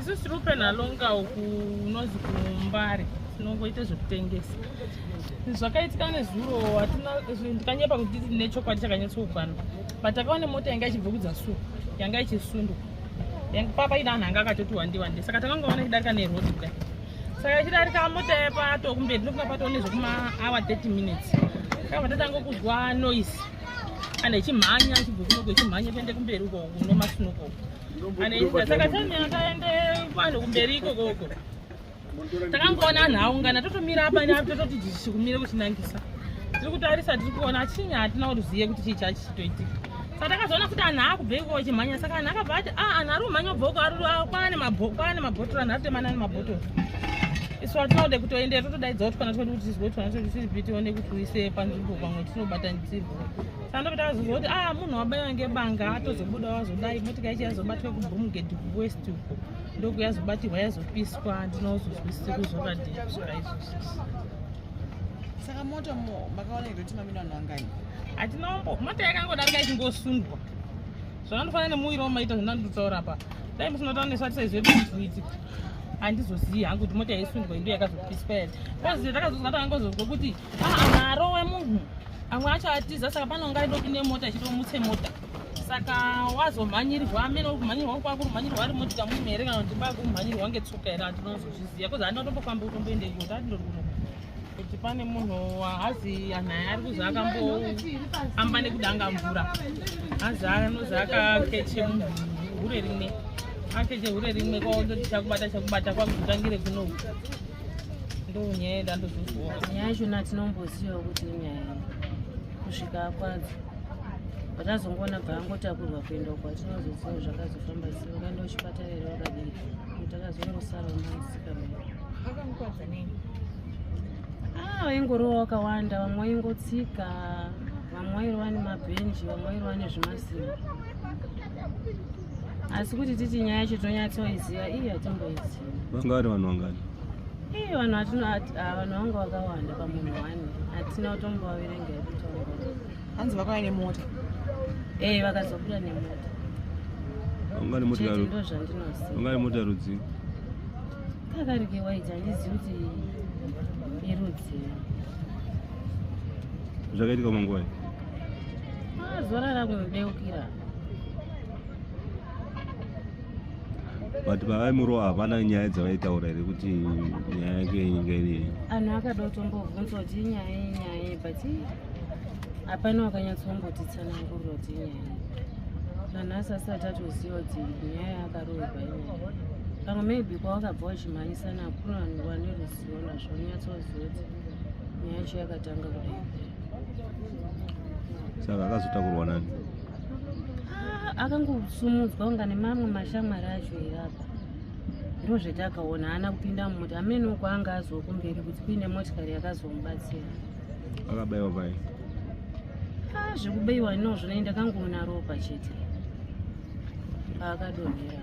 isu tiri kupena longa uku unozi kumbare tinongoita zvekutengesa zvakaitika nezuro hatina ndikanyepa kuti nechokwadi chakanyatsokwana but takaona mota yanga ichibva kudzasuku yanga ichisundwa papa ina anhu anga akatoti wandi wandi saka takangoona ichidarika nerod kudai saka ichidarika mota yepato kumberi ndokuna pato nezvekumaawa 30 minutes kakabva tatanga kuzwa noise kana ichimhanya achibva kunoko ichimhanya kuende kumberi uko unomasunoko uko anoita saka time akaende vanhu kumberi ikoko uko takangoona anhu aungana totomira apa neapo tototi jisi kumira kutinangisa tiri kutarisa tiri kuona chinyi hatina kuzive kuti chii chachitoitika saka takazoona kuti anhu akubvei kuko chimhanya saka anhu akabva ati a ah, anhu ari kumhanya ubvoko ari ah, kwane kwane mabhotoro anhu ari kutemana nemabhotoro isu atinode kutoendera totodaidza kuti kana todi kuti tizwe kuti kana todi tiri piti one kuti uise panzvimbo pamwe tinobatanidzirwa Sanobita azozoti ah munhu wabaiwa ngebanga atozobuda wazodai motika yacho yazobatwa kuBrumgate kuWest uko ndoku yazobatirwa yazopiswa ndinozozwisisa kuzokadii kusvika izvozvo. Saka moto makaona iri kuti mamina vanhu vangani? Hatina umbo moto yakangodarika ichingosundwa. Zvandofanira nemuviri wamaita zvinandutaura pa. Dai musinotaura nesu atisaizwe kuti handizozivi hangu kuti mota yaisundwa indo yakazopiswa yati. Kozi takazozwa takangozozwa kuti aa maarowe munhu amwe acho atiza saka panonga aida kupinde mota ichito mutse mota saka wazomhanyirwa amene uri kumhanyirwa kwako kumhanyirwa ari motika mume here kana kuti kwako kumhanyirwa ngetsoka here andinozozviziva kozi andina kutombofamba kutomboende ikoti andindori kuno kuti pane munhu haazi anhaya ari kuzi akamboamba nekudanga mvura haazi anozi akakeche munhu hure rimwe akeche hure rimwe kwaondoti chakubata chakubata kwakutangire kunoku ndonyaya yeda ndozoziwa nyaya yachona tinombozivawo kuti inyaya kusvika akwadzo vatazongoona bva angotakurwa kuenda uko atinozoziva zvakazofamba sei vakaenda kuchipatara here vakadii kuti akazongosara unamusika akamukwadza nei ah, vaingorova wakawanda vamwe vaingotsika vamwe vairova nemabhenji vamwe vairova nezvimasimba asi kuti titi nyaya yacho tonyatsoiziva iyi hatimboiziva vanga vari vanhu vangani ii vanhu vatino ah, vanhu vanga vakawanda pamunhu wani hatina kutombovaverenga yekutonga hanzi vakauya nemota ee eh, vakazobuda nemota vangani mota rudzii kakarike waiti handizivi kuti irudzii zvakaitika manguva ah, zorara kunodeukira but pavaimurova hapana nyaya dzavaitaura here kuti nyaya yake yenyika iriye anhu akada kutombobvunza kuti inyaya yenyaya but hapana wakanyatsombotii tsananguriro kuti inyaya nanhasi asati atoziva kuti nyaya yakarohwa inyaya pamwe maybe kwawakabva wachimhanyisana hakuna vanhu vane ruzivo nazvo unyatsoziva kuti nyaya yacho yakatanga kudai saka akazotakurwa nani ah, akangosumudzwa kunga nemamwe mashamwari acho here apa ndo zvetakaona haana kupinda mumoti amene uko anga aziwa kumberi kuti kuine motikari yakazomubatsira akabaiwa pai ah, zvekubaiwa inozvo nei ndakangoona ropa chete paakadonhera